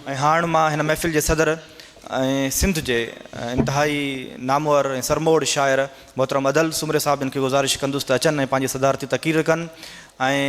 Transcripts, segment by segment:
۽ هاڻ مان هن محفل جي صدر ۽ سنڌ جي انتهائي نامور ۽ سرموڙ شاعر محترم ادل سومري صاحب جن کي گذارش ڪندس ته اچن ۽ پنهنجي صدارتي تقرير ڪن ۽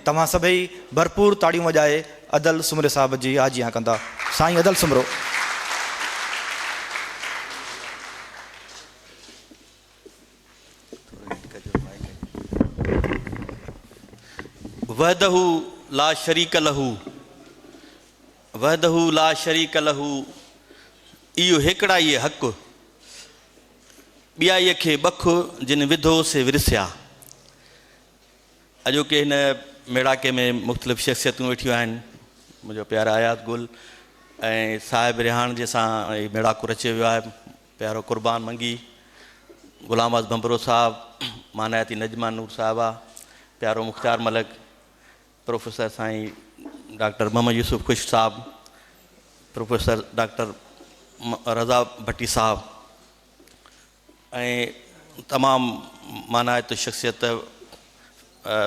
توهان سڀئي ڀرپور تاڙيون وڄائي ادل سومري صاحب جي آجيان ڪندا سائين ادل سومرو. وحده لا شريڪ له وحده لا شريڪ له ايو هيڪڙائيء حق ٻيائيء کي بک جن وڌو سي ورسيا اڄوڪي هن ميڙاڪي ۾ مختلف شخصيتون ويٺيون آهن منهنجو پيارا اياز گل ۽ صاحب ريحان جي سان ميڙاڪو رچيو ويو آهي پيارو قربان منگي، غلام واز ڀنڀرو صاحب، مانائتي نجمه نور صاحبه، پيارو مختيار ملڪ، پروفيسر سائين ڊاڪٽر محمد يوسف خشڪ صاحب، پروفيسر ڊاڪٽر رضا ڀٽي صاحب ۽ تمام مانائتي شخصيت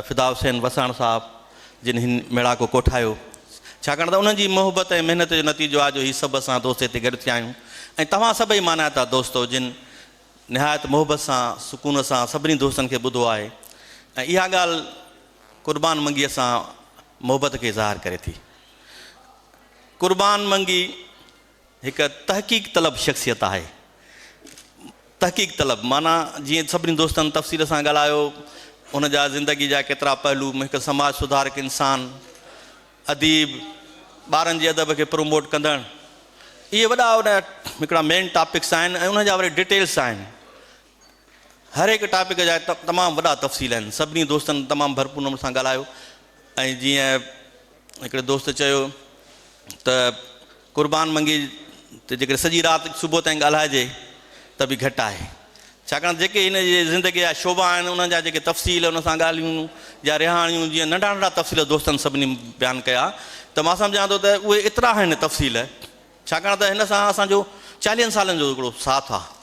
فدا حسين وساڻ صاحب جن هن ميڙاڪو ڪوٺايو ڇاڪاڻ ته انهن جي محبت ۽ محنت جو نتيجو آ جو هي سڀ اسان دوست هتي گڏ ٿيا آهيون ۽ توهان سڀئي مانائتا دوستو جن نهايت محبت سان سڪون سان سڀني دوستن کي ٻڌو آهي ۽ اها ڳالهه قربان منگيء سان محبت کي ظاهر ڪري ٿي قربان منگي هڪ تحقيق طلب شخصيت آهي. تحقيق طلب معنيٰ جيئن سڀني دوستن تفصيل سان ڳالهايو، هن جا زندگي جا ڪيترا پهلو، هڪ سماج سڌارڪ انسان، اديب، ٻارن جي ادب کي پروموٽ ڪندڙ، اهي وڏا وڏا هڪڙا مين ٽاپڪس آهن ۽ انهن جا وري ڊيٽيلس آهن. هر هڪ ٽاپڪ جا تمام وڏا تفصيل آهن سڀني دوستن تمام ڀرپور نموني سان ڳالهايو ۽ جيئن هڪڙي دوست چيو ته قربان منگي ته جيڪڏهن سڄي رات صبح تائين ڳالهائجي ته به گهٽ آهي ڇاڪاڻ جيڪي هن جي زندگي جا شعبا آهن انهن جا جيڪي تفصيل ان سان ڳالهيون يا رهاڻيون جيئن ننڍا ننڍا تفصيل دوستن سڀني بيان ڪيا ته مان سمجهان ٿو ته اهي ايترا آهن تفصيل ڇاڪاڻ ته هن سان اسان جو چاليهن سالن جو هڪڙو ساٿ آهي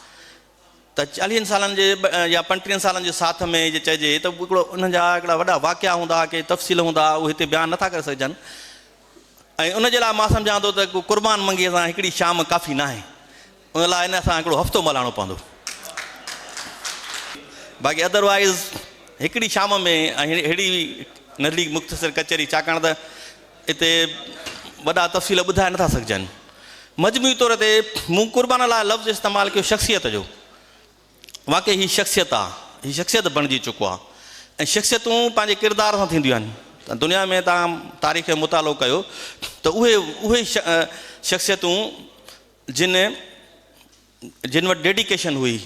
ته چاليهن سالن جي يا پنٽيهن سالن جي ساٿ ۾ جي چئجي ته هڪڙو انهن جا هڪڙا وڏا واقعا هوندا، ڪي تفصيل هوندا، اهي هتي بيان نه ٿا ڪري سگهجن ۽ ان جي لاء مان سمجهان ٿو ته ڪو قربان منگيء سان هڪڙي شام ڪافي ناهي. ان لاء نه اسان هڪڙو هفتو ملهاڻو پوندو. باقي ادروائيز هڪڙي شام ۾ اهڙي نڍڙي مختصر ڪچهري ڇاڪاڻ ته. اتي وڏا تفصيل ٻڌائي نٿا سگهجن. مجموعي طور تي مون قربان لاء لفظ استعمال ڪيو شخصيت جو. واقعي هي شخصيت آ. هي شخصيت بڻجي چڪو آ ۽ شخصيتون پنهنجي ڪردار سان ٿينديون آهن. دنيا ۾ توهان تاريخ جو مطالعو ڪيو ته اهي اهي شخصيتون جن جن وٽ ڊيڊيڪيشن هئي،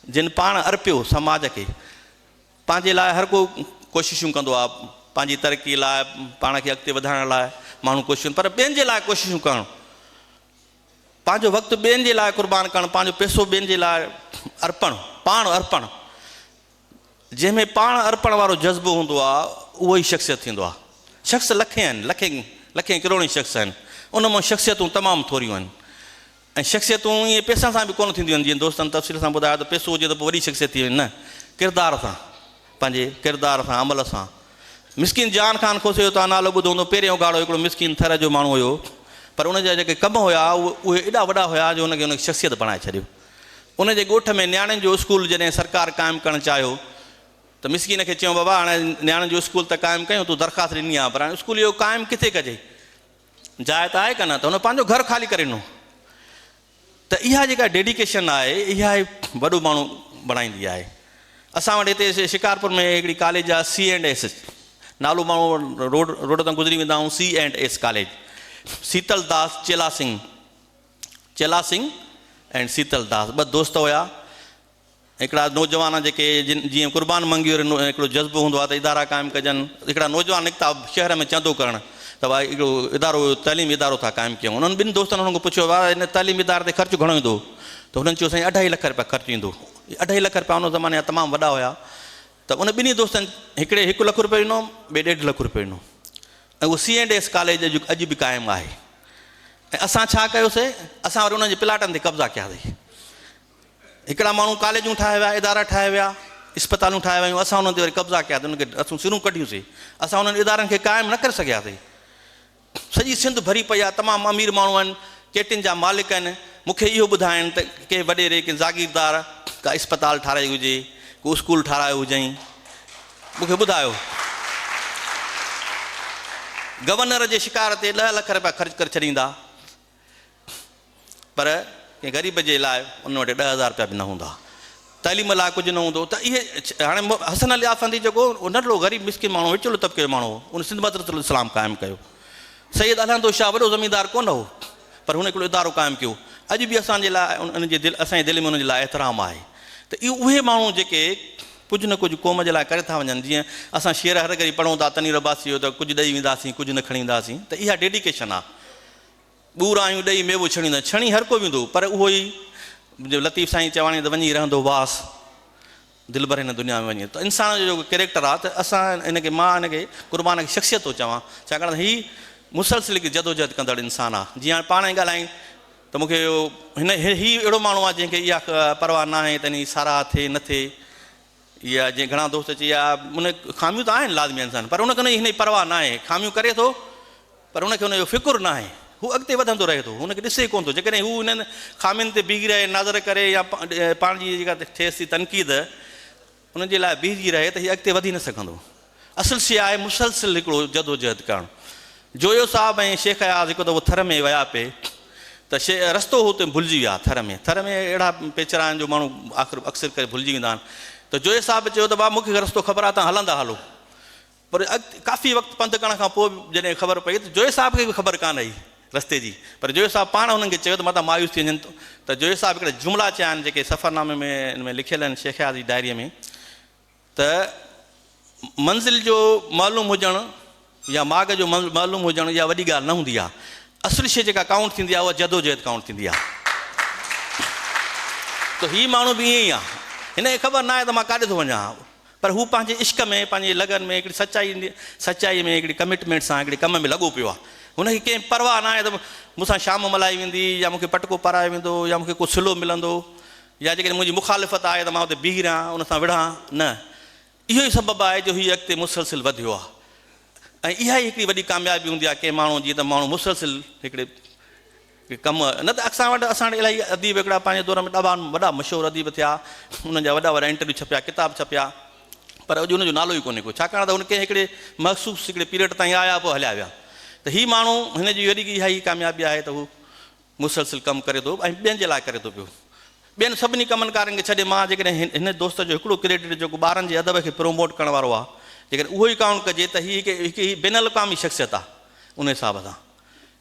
جن پاڻ ارپيو سماج کي. پنهنجي لاء هر ڪو ڪوششون ڪندو آهي، پنهنجي ترقي لاء، پاڻ کي اڳتي وڌائڻ لاء ماڻهو ڪوششون پر ٻين جي لاء ڪوششون ڪرڻ، پنهنجو وقت ٻين جي لاء قربان ڪرڻ، پنهنجو پئسو ٻين جي لاء ارپڻ، پاڻ ارپڻ، جنهن ۾ پاڻ ارپڻ وارو جذبو هوندو آهي اهو ئي شخصيت ٿيندو آهي. شخص لکين آهن، لکين لکين ڪروڙين شخص آهن، ان مان شخصيتون تمام ٿوريون آهن. ۽ شخصيتون ائين پئسن سان به ڪونه ٿينديون آهن جيئن دوستن تفصيل سان ٻڌايو ته پئسو هجي ته پوء وڏي شخصيت ٿي وڃي نه ڪردار سان پنهنجي ڪردار سان عمل سان مسڪين جان خان کوسي جو توهان نالو ٻڌو هوندو پهرين اگهاڙو هڪڙو مسڪين ٿر جو ماڻهو هيو پر ان جا جيڪي ڪم هيا اهي ايڏا وڏا هيا جو ان کي ان شخصيت بڻائي ڇڏيو ان جي ڳوٺ ۾ نياڻين جو اسڪول جڏهن سرڪار قائم ڪرڻ چاهيو ته مسڪين کي چيون بابا هاڻي نياڻين جو اسڪول ته قائم ڪيون تون درخواست ڏني آهي پر هاڻي اسڪول اهو قائم ڪٿي ڪجي جاء ته آهي ڪانه ته هن پنهنجو گهر خالي ڪري ڏنو ته اها جيڪا ڊيڊيڪيشن آهي اها ئي وڏو ماڻهو بڻائيندي آهي اسان وٽ هتي شڪارپور ۾ هڪڙي ڪاليج آهي سي اينڊ ايس نالو ماڻهو روڊ روڊ تان گذري ويندا آهيون C and S college Sital Das Chela Singh Chela Singh and Sital داس ٻه دوست هيا هڪڙا نوجوان جيڪي جن جيئن قربان منگي وري نو هڪڙو جذبو هوندو آهي ته ادارا قائم ڪجن هڪڙا نوجوان نڪتا شهر ۾ چندو ڪرڻ ته ڀائي هڪڙو ادارو تعليمي ادارو ٿا قائم ڪيون انهن ٻن دوستن هنن کان پڇيو ڀاء هن تعليمي اداري تي خرچ گهڻو ايندو ته هنن چيو سائين اڍائي لک رپيا خرچ ايندو اڍائي لک رپيا ان زماني جا تمام وڏا هيا ته ان ٻنهي دوستن هڪڙي هڪ لک رپيو ڏنو ٻئي ڏيڍ لک رپيو ڏنو ۽ اهو سي اينڊ ايس ڪاليج اڄ اڄ به قائم آهي ۽ اسان ڇا ڪيوسي اسان وري انهن جي پلاٽن تي قبضا ڪياسي هڪڙا ماڻهو ڪاليجون ٺاهي ويا، ادارا ٺاهي ويا، اسپتالون ٺاهي ويون، اسان انهن تي وري قبضا ڪيا ته انهن کي اسون سرون ڪڍيون سي. اسان انهن ادارن کي قائم نه ڪري سگهيا سي. سڄي سنڌ ڀري پئي آ، تمام امير ماڻهو آهن، چيٽين جا مالڪ آهن، مون کي اهو ٻڌائين ته ڪنهن وڏيري، ڪنهن زاگيردار ڪا اسپتال ٺاهرائي هجي، ڪو اسڪول ٺاهرايو هجئين، مون کي ٻڌايو. گورنر جي شڪار تي ڏهه لک رپيا خرچ ڪري ڇڏيندا. پر ڪنهن غريب جي لاء ان وٽ ڏهه هزار رپيا به نه هوندا، تعليم لاء ڪجهه نه هوندو ته اهي هاڻي حسن علي آفندي جيڪو ننڍڙو غريب مسڪين ماڻهو وچولو طبقي جو ماڻهو هو ان سنڌ مدرسة الاسلام قائم ڪيو. سيد الهندو شاهه وڏو زميندار ڪونه هو پر هن هڪڙو ادارو قائم ڪيو اڄ به اسان جي لاء ان جي دل اسان جي دل ۾ ان جي لاء احترام آهي ته اهي اهي ماڻهو جيڪي ڪجهه نه ڪجهه قوم جي لاء ڪري ٿا وڃن جيئن اسان شعر هر گهڙي پڙهون ٿا تنوير عباسي جو ته ڪجهه ڏئي وينداسين ڪجهه نه کڻي وينداسين ته اها ڊيڊيڪيشن آهي ٻورايون ڏئي ميوو ڇڻيندين. ڇڻي هر ڪو ويندو پر اهو ئي جو لطيف سائين چواڻي ته وڃي رهندو واس دلبر هن دنيا ۾ وڃي ته انسان جو جيڪو ڪريڪٽر آ ته اسان هن کي مان هن کي قربان کي شخصيت ٿو چوان ڇاڪاڻ ته هي مسلسل هڪ جدوجهد ڪندڙ انسان آ جيئن هاڻي پاڻ ئي ڳالهيائين ته مون کي هن هي اهڙو ماڻهو آ جنهن کي اها پرواهه ناهي ته هن جي ساراهه ٿئي نه ٿئي اها جيئن گهڻا دوست چئي اها ان خاميون ته آهن لازمي انسان پر ان کي ان جي پرواهه ناهي خاميون ڪري ٿو پر ان کي ان جو فڪر ناهي هو اڳتي وڌندو رهي ٿو ان کي ڏسي ڪونه ٿو جيڪڏهن هو انهن خامين تي بيهي رهي نظر ڪري يا پاڻ جي جيڪا ٿيس ٿي تنقيد ان جي لاء بيهجي رهي ته هي اڳتي وڌي نه سگهندو اصل شيء آهي مسلسل هڪڙو جدوجهد ڪرڻ. جويو صاحب ۽ شيخ اياز هڪ دفعو ٿر ۾ ويا پئي ته شي رستو هو تنهن ڀلجي ويا ٿر ۾ ٿر ۾ اهڙا پيچرا آهن جو ماڻهو آخر اڪثر ڪري ڀلجي ويندا آهن ته جويو صاحب چيو ته بابا مون کي رستو خبر آهي تهان هلندا هلو پر اڳتي ڪافي وقت پنڌ ڪرڻ کان پوء جڏهن خبر پئي ته جويو صاحب کي به خبر ڪانه هئي رستي جي پر جويو صاحب پاڻ هنن کي چيو ته متان مايوس ٿي وڃن ته جويو صاحب هڪڙا جملا چيا آهن جيڪي سفرنامي ۾ ان ۾ لکيل آهن شيخ اياز جي ڊائري ۾ ته منزل جو معلوم هجڻ يا ماڳ جو معلوم هجڻ اها وڏي ڳالهه نه هوندي آهي. اصل شيء جيڪا ڪائونٽ ٿيندي آهي اها جدوجهد ڪائونٽ ٿيندي آهي. ته هي ماڻهو به ائين ئي آهي. هن کي خبر ناهي ته مان ڪاڏي ٿو وڃان پر هو پنهنجي عشق ۾ پنهنجي لگن ۾ هڪڙي سچائي سچائي ۾ هڪڙي ڪمٽمينٽ سان هڪڙي ڪم ۾ لڳو پيو آهي. هن کي ڪنهن پرواهه ناهي ته مون سان شام ملهائي ويندي يا مون کي پٽڪو پارايو ويندو يا مون کي ڪو صلو ملندو. يا جيڪڏهن منهنجي مخالفت آهي ته مان اتي بيهي رهان، ان سان وڙهان نه. اهو ئي سبب آهي جو هي اڳتي مسلسل وڌيو آهي ۽ اها ئي هڪڙي وڏي ڪاميابي هوندي آهي ڪنهن ماڻهو جي ته ماڻهو مسلسل هڪڙي ڪم نه ته اڪثر وٽ اسان وٽ الاهي اديب هڪڙا پنهنجي دور ۾ ڏاڍا وڏا مشهور اديب ٿيا، انهن جا وڏا وڏا انٽرويو ڇپيا، ڪتاب ڇپيا پر اڄ ان جو نالو ئي ڪونهي ڪو ڇاڪاڻ ته هن ڪنهن هڪڙي مخصوص هڪڙي پيريڊ تائين آيا پوء هليا ويا ته هي ماڻهو هن جي وڏي اها ئي ڪاميابي آهي ته هو مسلسل ڪم ڪري ٿو ۽ ٻين جي لاء ڪري ٿو پيو. ٻين سڀني ڪمن ڪارن کي ڇڏي مان جيڪڏهن هن هن دوست جو هڪڙو ڪريڊٽ جيڪو ٻارن جي ادب کي پروموٽ ڪرڻ وارو آ جيڪڏهن اهو ئي ڪائونٽ ڪجي ته هي هڪ هڪ هي بين الاقوامي شخصيت آ ان حساب سان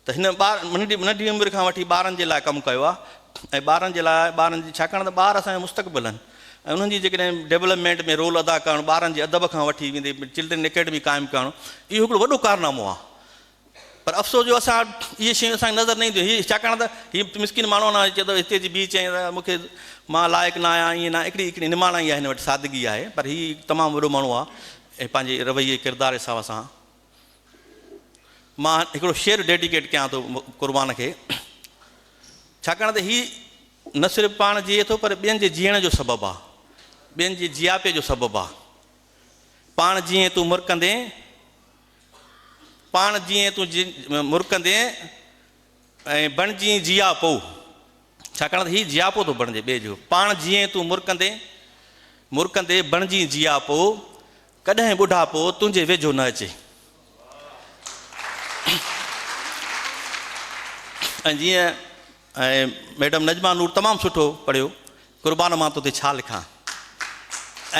ته هن ٻار ننڍي ننڍي عمر کان وٺي ٻارن جي لاء ڪم ڪيو آ ۽ ٻارن جي لاء ٻارن جي ڇاڪاڻ ته ٻار اسان جو مستقبل آهن ۽ انهن جي جيڪڏهن ڊيولپمينٽ ۾ رول ادا ڪرڻ ٻارن جي ادب کان وٺي ويندي چلڊرين اڪيڊمي قائم ڪرڻ اهو هڪڙو وڏو ڪارنامو آ پر افسوس جو اسان وٽ اهي شيون اسان کي نظر نه اينديون هي ڇاڪاڻ ته هي مسڪين ماڻهو انا چئي ٿو هتي اچي بيهه چئين ته مون کي مان لائق نه آهيان ائين نه آهيان هڪڙي هڪڙي نماڻائي آهي هن وٽ سادگي آهي پر هي تمام وڏو ماڻهو آهي ۽ پنهنجي رويي ڪردار حساب سان مان هڪڙو شعر ڊيڊيڪيٽ ڪيان ٿو قربان کي ڇاڪاڻ ته هي نه صرف پاڻ جيئي ٿو پر ٻين جي جيئڻ جو سبب آهي ٻين جي جياپي جو سبب آهي پاڻ جيئي تون مرڪندين پاڻ جيئين تون مرڪندين ۽ بڻجين جياپو، ڇاڪاڻ ته هي جياپو ٿو بڻجي ٻئي جو پاڻ جيئين تون مرڪندين مرڪندي بڻجين جياپو، ڪڏهن ٻڍاپو تنهنجي ويجهو نه اچي. ۽ جيئن ۽ ميڊم نجمه نور تمام سٺو پڙهيو قربان مان توتي ڇا لکان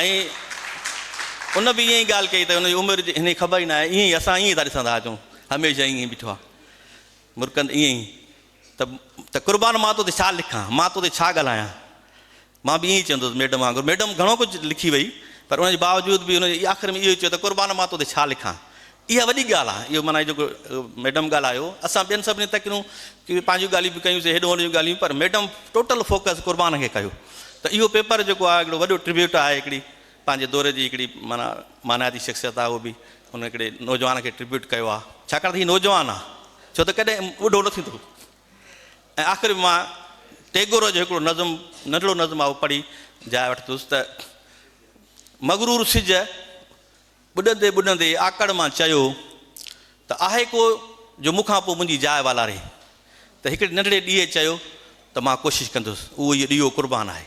۽ ان به ائين ئي ڳالهه ڪئي ته ان جي عمر جي هن خبر ئي ناهي ائين ئي اسان ائين ئي ٿا ڏسندا اچون هميشه ائين ئي بيٺو آ مرڪند ائين ئي ته ته قربان مان توتي ڇا لکان مان توتي ڇا ڳالهايان مان به ائين ئي چوندس ميڊم وانگر. ميڊم گهڻو ڪجهه لکي وئي پر ان جي باوجود به هن جي آخر ۾ اهو ئي چيو ته قربان مان تو تي ڇا لکان. اها وڏي ڳالهه آهي. اهو معنيٰ جيڪو ميڊم ڳالهايو اسان ٻين سڀني تڪريون ڪيون پنهنجيون ڳالهيون به ڪيون سي هيڏو هوڏو جون ڳالهيون پر ميڊم ٽوٽل فوڪس قربان کي ڪيو ته اهو پيپر جيڪو آهي هڪڙو وڏو ٽربيوٽ آهي هڪڙي پنهنجي دور جي هڪڙي معنيٰ مانائتي شخصيت آهي اهو به ان هڪڙي نوجوان کي ٽربيوٽ ڪيو آهي ڇاڪاڻ ته هي نوجوان آهي ڇو ته ڪڏهن ٻڍو نه ٿيندو. ۽ آخر به مان ٽيگور جو هڪڙو نظم، ننڍڙو نظم آهي اهو پڙهي جاء وٺندس ته، مغرور سج ٻڏندي ٻڏندي آڪڙ مان چيو ته، آهي ڪو جو مون کان پوء منهنجي جاء والاري؟ ته هڪڙي ننڍڙي ڏيئي چيو ته، مان ڪوشش ڪندس. اهو ئي ڏيئو قربان آهي.